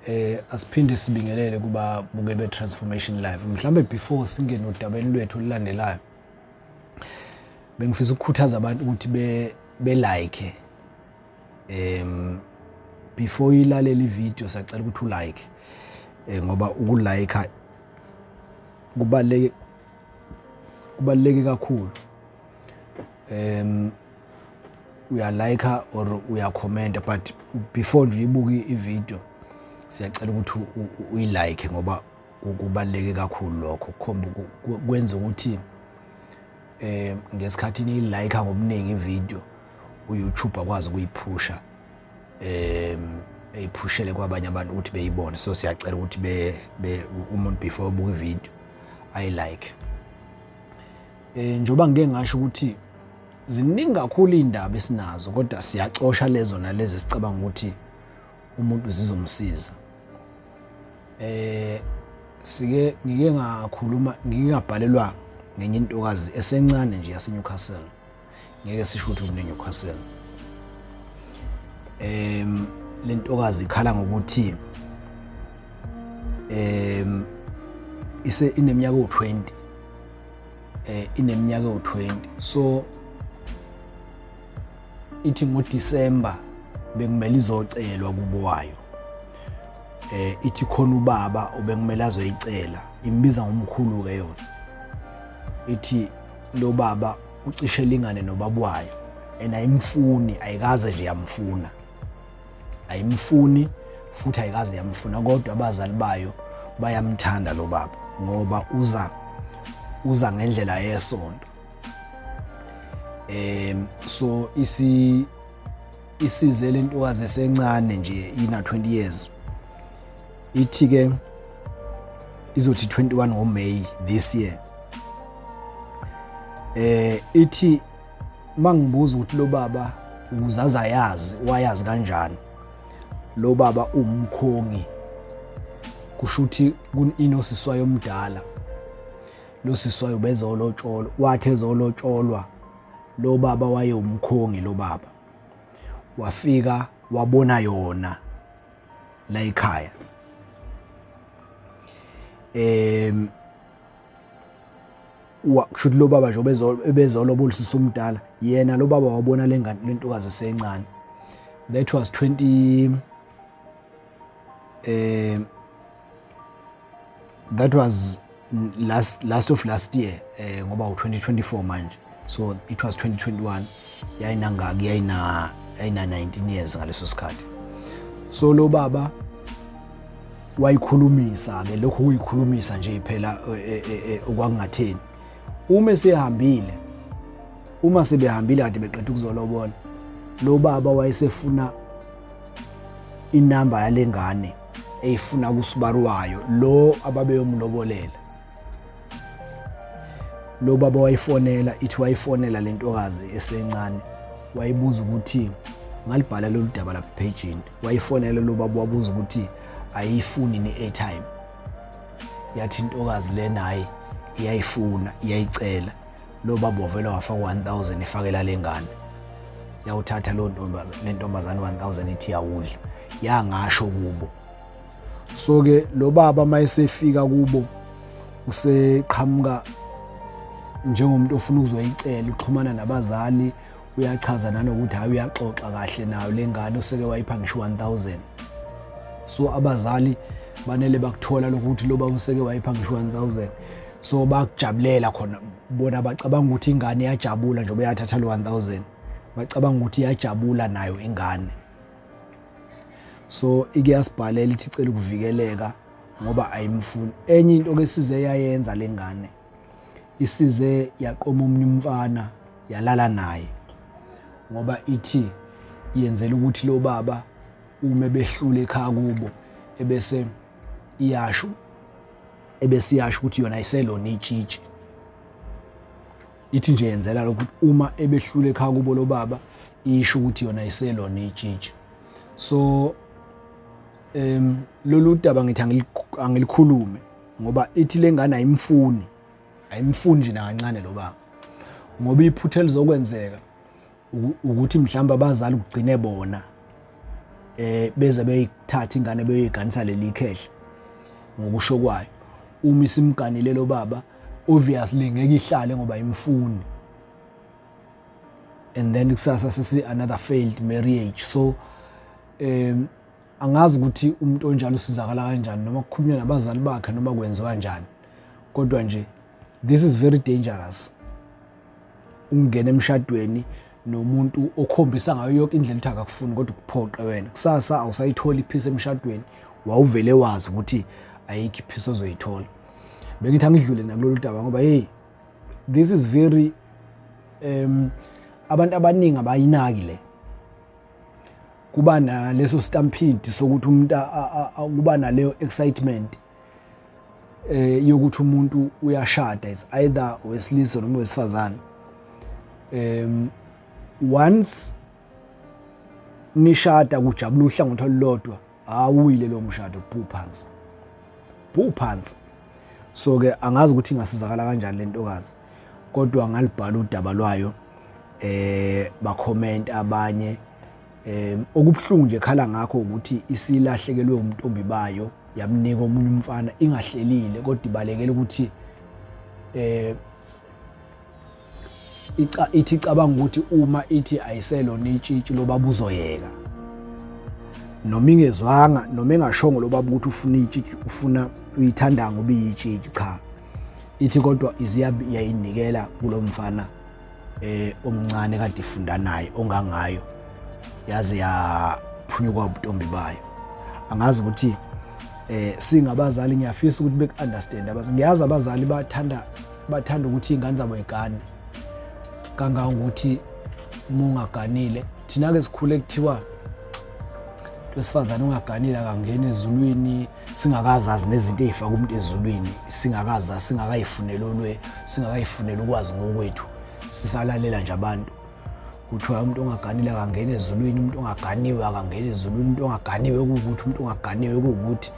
eh asiphinde sibingelele kuba buke be transformation live mhlambe before singene odabeni lwethu olulandelayo bengifisa ukukhuthaza abantu ukuthi be be like em before ilalela ivideo sacela ukuthi u like eh ngoba uku like kubaleke kubaleke kakhulu em uyalayikha or uyakhomenta but before nje uyibuke ividiyo siyacela ukuthi uyilayikhe ngoba kubaluleke kakhulu lokho kukhomba kwenza ukuthi um ngesikhathi niyilayikha ngobuningi ividiyo uyoutube akwazi ukuyiphusha um eyiphushele kwabanye abantu ukuthi beyibone so siyacela ukuthi umuntu before ubuka ividiyo ayilike Eh njoba ngike ngasho ukuthi ziningi kakhulu indaba esinazo kodwa siyacosha lezo nalezi esicabanga ukuthi umuntu zizomsiza. Eh sike ngike ngakhuluma ngingabhalelwa ngenye intokazi esencane nje yaseNewcastle ngeke sisho ukuthi uneNewcastle em lentokazi ikhala ngokuthi em ise ineminyaka u20 eh ineminyaka u20 so ithi ngoDecember bekumele izocelwa kubo wayo eh ithi khona ubaba obekumele azoyicela imbiza ngomkhulu ke yona ithi lo baba ucishe elingane nobaba wayo and ayimfuni ayikaze nje yamfuna ayimfuni futhi ayikaze yamfuna kodwa abazali bayo bayamthanda lo baba ngoba uza uza ngendlela yesonto em so isi isize lentokazi esencane nje ina 20 years ithi ke izothi 21 ngo May this year eh ithi mangibuza ukuthi lo baba ukuzaza yazi wayazi kanjani lo baba umkhongi kusho ukuthi kunosiswayo omdala lo siswayo bezolotsholwa wathi ezolotsholwa lo baba wayewumkhongi lo baba wafika wabona yona la ekhaya em wakusho ukuthi lo baba nje ubezolobola usisi omdala yena lo baba wabona lengane lentokazi esencane that was 20 um that was last last of last year eh ngoba u2024 manje so it was 2021 yayinangaki yayina yayina 19 years ngaleso sikhathi so lo baba wayikhulumisa ke lokho kuyikhulumisa nje phela eh, eh, eh, okwakungatheni uma sehambile uma sebehambile kade beqeda ukuzolobola lo baba wayesefuna inamba yalengane eyifuna kuSibaru wayo lo ababeyomlobolela lo baba wayifonela ithi wayifonela le ntokazi esencane wayibuza ukuthi ngalibhala lolu daba lapha ephejini wayifonela lo baba wabuza ukuthi ayiyifuni ne-airtime yathi intokazi le naye iyayifuna iyayicela lo baba wavela wafaka 1000 efakela lengane yawuthatha lo lentombazane 1000 ithi yawudla yangasho kubo so ke lo baba mayesefika kubo useqhamuka njengomuntu ofuna ukuzoyicela uxhumana nabazali uyachaza nanokuthi hayi uyaxoxa kahle nayo lengane useke wayipha ngisho 1000 so abazali banele bakuthola lokuthi loba useke wayipha ngisho 1000 so bakujabulela khona bona bacabanga ukuthi ingane iyajabula njengoba yathatha lo 1000 bacabanga ukuthi iyajabula nayo ingane so ikuyasibhalela ithi icela ukuvikeleka ngoba ayimfuni enye into ke size yayenza lengane isize yaqoma omunye umfana yalala naye ngoba ithi yenzela ukuthi lo baba uma behlule ekhaya kubo ebese iyasho ebesiyasho ukuthi yona iselona itshitshi ithi nje yenzela lokuthi uma ebehlule ekhaya kubo lo baba isho ukuthi yona iselona itshitshi so em lolu daba ngithi angilikhulume ngoba ithi lengane ayimfuni ayimfuni nje nakancane lo baba ngoba iphutha elizokwenzeka ukuthi mhlawumbe abazali kugcine bona eh beze beyithatha ingane beyoyiganisa leli khehla ngokusho kwayo uma isimganile lo baba obviously ngeke ihlale ngoba imfuni and then kusasa sisi another failed marriage so um angazi ukuthi umuntu onjalo usizakala kanjani noma kukhulunywa nabazali bakhe noma kwenziwa kanjani kodwa nje this is very dangerous ungena emshadweni nomuntu okhombisa ngayo yonke indlela ukuthi akakufuni kodwa ukuphoqe wena kusasa awusayithola iphisa emshadweni wawuvele wazi ukuthi ayikho iphisa ozoyithola bengithi angidlule nakulolu daba ngoba hey this is very um abantu abaningi abayinaki le kuba naleso stampede sokuthi umuntu kuba naleyo excitement eh yokuthi umuntu uyashada is either wesilisa noma wesifazane um once nishada kujabula uhlangothi olulodwa awuyile lo mshado phu phansi phu phansi so ke angazi ukuthi ingasizakala kanjani lentokazi kodwa ngalibhala udaba lwayo eh bakhomenta abanye eh okubuhlungu nje khala ngakho ukuthi isilahlekelwe umntombi bayo yamnika omunye umfana ingahlelile kodwa ibalekela ukuthi eh ica ithi cabanga ukuthi uma ithi ayiselona itshitshi loba buzoyeka noma ingezwanga noma engashongo loba ukuthi ufuna itshitshi ufuna uyithanda ngoba iyitshitshi cha ithi kodwa iziyabi yayinikela kulomfana eh omncane kade ifunda naye ongangayo yaze yaphunyuka ubuntombi bayo angazi ukuthi eh singabazali ngiyafisa ukuthi beku understand abazi ngiyazi abazali bathanda bathanda ukuthi ingane zabo igane kanga ukuthi mungaganile thina ke sikhule kuthiwa wesifazane ungaganile akangeni ezulwini singakazazi nezinto ey'faka umuntu ezulwini singakazazi singakayifuneli olwe singakayifuneli ukwazi ngokwethu sisalalela nje abantu kuthiwa umuntu ongaganile akangena ezulwini umuntu ongaganiwe akangena ezulwini umuntu ongaganiwe kuwukuthi umuntu ongaganiwe kuwukuthi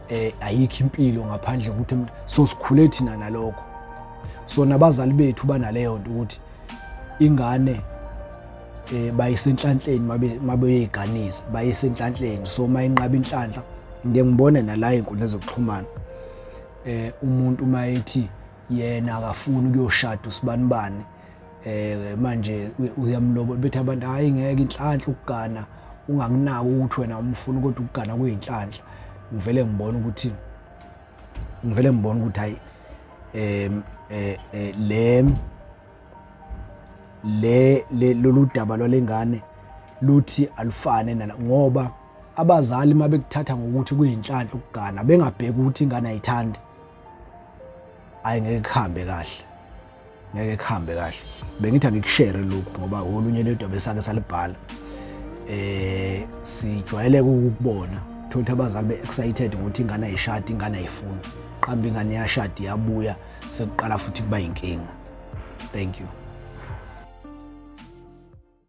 eh ayikho impilo ngaphandle ukuthi so sikhule thina nalokho so nabazali bethu banaleyo nto ukuthi ingane eh bayisenhlanhleni mabe mabeyeganisa bayisenhlanhleni so mayinqaba inhlanhla ngeke ngibone nala inkundla zokuxhumana eh umuntu uma ethi yena akafuni ukuyoshada usibanibani eh manje uyamlobola bethi abantu hayi ngeke inhlanhla ukugana ungakunaki ukuthi wena umfuna kodwa ukugana kuyinhlanhla ngivele ngibone ukuthi ngivele ngibone ukuthi hayi em eh, eh le le le- lolu daba lwalengane luthi alufane nala ngoba abazali uma bekuthatha ngokuthi kuyinhlanhla ukugana bengabheki ukuthi ingane ayithandi ayi ngeke kuhambe kahle ngeke kuhambe kahle bengithi angikushere lokhu ngoba olunye lento besake salibhala eh sijwayeleke ukubona thothi abazali be excited ukuthi ingane ayishadi ingane ayifuni qamba ingane yashadi yabuya sekuqala futhi kuba inkinga thank you